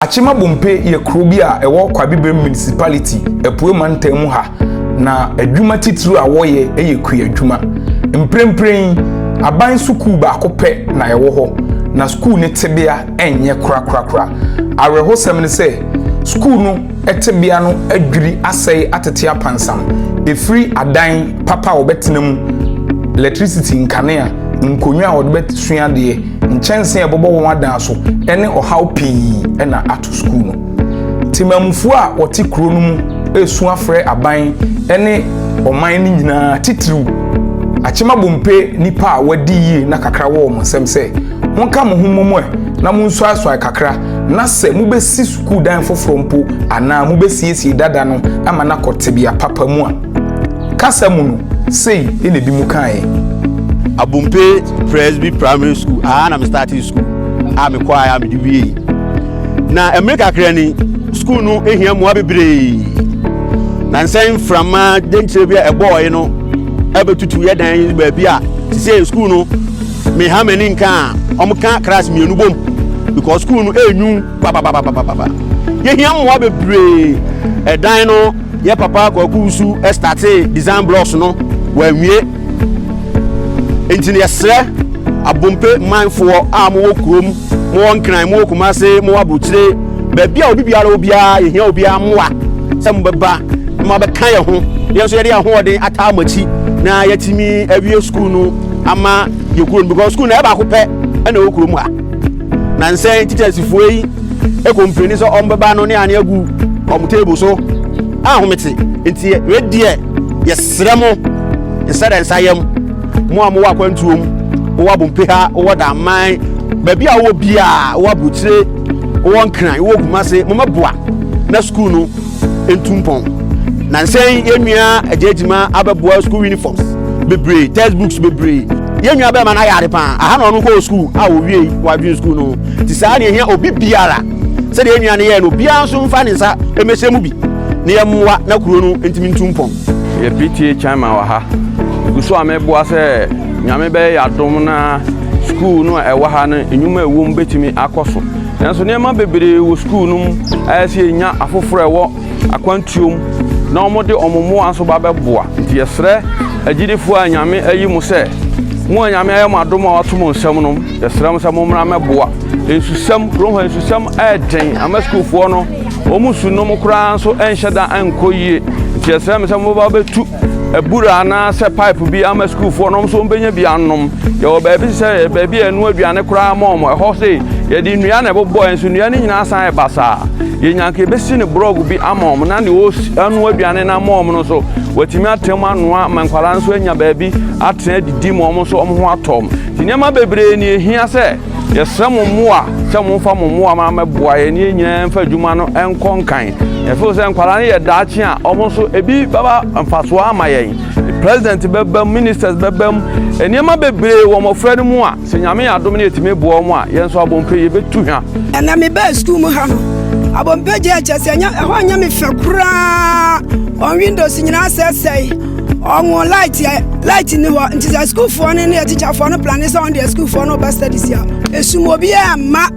Akyema Bompe yɛ kuro bi a ɛwɔ Kwabebrem Municipality, Apuei Mantam mu ha, na adwuma titiriw a wɔyɛ yɛ kua adwuma. Mprempren yi, aban sukuu baako pɛ na ɛwɔ hɔ, na sukuu no tebea nyɛ korakorakora. Awerɛhosɛm ne sɛ, sukuu no tebea no adwiri asɛe atete apansam, ɛfiri adan papa a wɔbɛtena mu, lɛtrisiti nkanea, nkonnwa a wɔde bɛsua adeɛ, Nkyɛnsee a ɛbɛbɔ wɔn adan so ne ɔhaw pii na ato sukuu no. Temamufoɔ a wɔte kuro no mu resu afrɛ aban ne ɔman no nyinaa, titiriw Akyem Abompe nnipa a wɔadi yie na kakra wɔ wɔn nsam sɛ, Monka mo ho mmom ɛ na monsuasuae kakra na sɛ mobɛsi sukuudan foforɔ mpo anaa mobɛsiesie dada no ama no akɔ tebea papa mu a, kasa mu no, sei na ebinom kaeɛ. Abompe Presby Primary School, aha na me startee school a mekɔaeɛ a mede wiei. Na mmere kakra ni, school no hia mmoa bebree. Na nsɛn mframa denkyerɛ bi a ɛbɔɔe no abɛtutu yɛ dan baabi a sisei school no meha m'ani nka a wɔka class mmienu bom because school no ɛnwu. Papapapapapa. Yɛhia mmoa bebree. Ɛdan no, yɛ papa Kwaku Wusu startee design blocks no, wanwie. Enti no yɛsrɛ Abompe manfoɔ a mowɔ kurom, mowɔ Nkran, mowɔ Kumase, mowɔ Aburokyire, baabi a obi biara wɔ biara, yɛhia obiara mmoa sɛ mobɛba na moabɛka yɛn ho. Yɛn nso yɛde ahoɔden ataa mo akyi na yɛatumi awie sukuu no ama yɛn kuro no because sukuu no ɛyɛ baako pɛ ɛna ɛwɔ kurom ha. Na nsɛn nkyekyeɛsefoɔ yi kɔ mprɛni sɛ ɔmbɛba no ne ane agu ɔmo table so ahomete. Nti wei deɛ yɛsrɛ mo nsɛdɛnsayɛm, mo a mowɔ akwantuo mu, mowɔ abompe ha, wowɔ daman, baabi a wowɔ biaa, wowɔ aburokyire, wowɔ nkran, wowɔ kumase, mommɛboa na sukuu no ntu mpɔn nansɛn yɛn nua agya agyima abɛboa school uniforms bebree textbooks bebree yɛn nua bɛrima no ayɛ ade paa aha na ɔno kɔɔ school a wɔwie wadwene school no te saa ne ɛhia obi biara sɛdeɛ yɛn nua no yɛɛ no obiara nso mfa ne nsa mmɛhyɛ mu bi na yɛmmoa na kuro no ntumi ntu mpɔn yɛ pta chama wɔ ha gu so a mɛboa sɛ nyame bɛyɛ yɛ adom na school no a ɛwɔ ha no nnwuma ɛwom bɛtumi akɔ so Nanso nneɛma bebree wɔ sukuu no mu a ɛsɛ sɛ yɛnya afoforɔ a ɛwɔ akwantuo mu na wɔde wɔn mmoa nso ba bɛboa. Nti yɛsrɛ agyidifoɔ a Nyame ayi mo sɛ, mo a Nyame ayɛ mo adom a wɔato mo nsam nom, yɛsrɛ mo sɛ mommra mmɛboa. Nsusɛm, Kurom ha nsusɛm ayɛ den ama sukuufoɔ no. Wɔn su nom koraa nso nhyɛ da nkɔ yie. Nti yɛsrɛ mo sɛ mobɛba bɛtu abura anaasɛ pipe bi ama sukuufoɔ no nso wɔbɛnya bi anom. Yɛwɔ baabi sɛ baabi a ɛnoa aduane koraa ma wɔn. Ɛhɔ sei yɛde nnua na ɛbobɔɛ nso nnua no nyinaa san yɛ basaa. Yɛnya nka yɛbɛsi no borɔg bi ama wɔn na deɛ ɔnoa aduane no ama wɔn no nso watumi atena mu anoa ma nkwadaa nso anya baabi atena adidi ma wɔn nso wɔn ho atɔ wɔn. Nti nneɛma bebree na ɛhia sɛ Yɛsrɛ mo mmoa sɛ momfa mo mmoa ma mɛboa yɛn ne yɛn nyinaa mfa adwuma no nkɔ nkan. Yɛfeel sɛ nkwadaa no yɛ daakye a wɔn nso ebi bɛba mfasoɔ ama yɛn. President bɛbam, ministers bɛbam, nneɛma bebree wɔ mmɔfra no mu a sɛ Nyame yɛ adom na yɛtumi boa wɔn a, yɛn nso Abompe yɛbɛtu hwa. Ɛnna mebaa sukuu mu ha no. Abompe gyaa kyɛ sɛ ɛnyɛ ɛhɔ nyɛ me fɛ koraa. Wɔn windows nyinaa asɛesɛe. wɔn light yɛ light ni hɔ nti sɛ sukuufoɔ no ne atikyafoɔ no plane sɛ wɔn deɛ sukuufoɔ no ba study si a esum obiara mma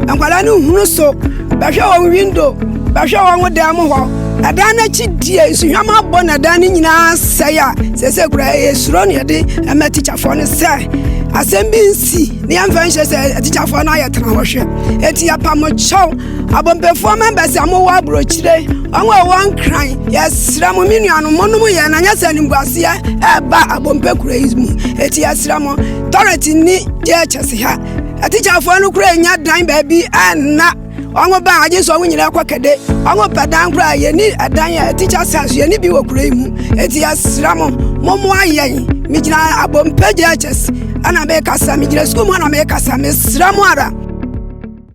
nkwadaa no nhunu so bɛhwɛ wɔn window bɛhwɛ wɔn dan mu hɔ ɛdan no akyi deɛ nsuhwam abɔ na ɛdan no nyinaa sɛe a sɛsɛ kura ɛyɛ suro ne ɛde ɛma atikyafoɔ no sɛ asɛm bi nsi ne yɛmfa nhyɛ sɛ atikyafoɔ no ayɛ tena hɔ hwɛ eti apamokyɛw abɔmpɛfoɔ members a mowɔ aburokyire wɔn a wɔn nkran yɛsrɛ mo me nuanom monom yɛn na nyɛ sɛ animguaseɛ ɛreba abɔmpɛ kuro yi mu eti yɛsrɛ mo tɔrɛt ni deɛ kyɛse ha atikyafoɔ no kura nya dan baabi ɛnna wɔn ba agye sɛ wɔn nyinaa kɔ kɛde wɔn pɛ dan kura yɛni ɛdan a atikya sas yɛni bi wɔ kuro yi mu eti yɛsrɛ mo momoa yɛn megyina abɔmpɛ deɛ kyɛse ɛna mekasa megyina sukuu mu ɛna mekasa mesrɛ mo ara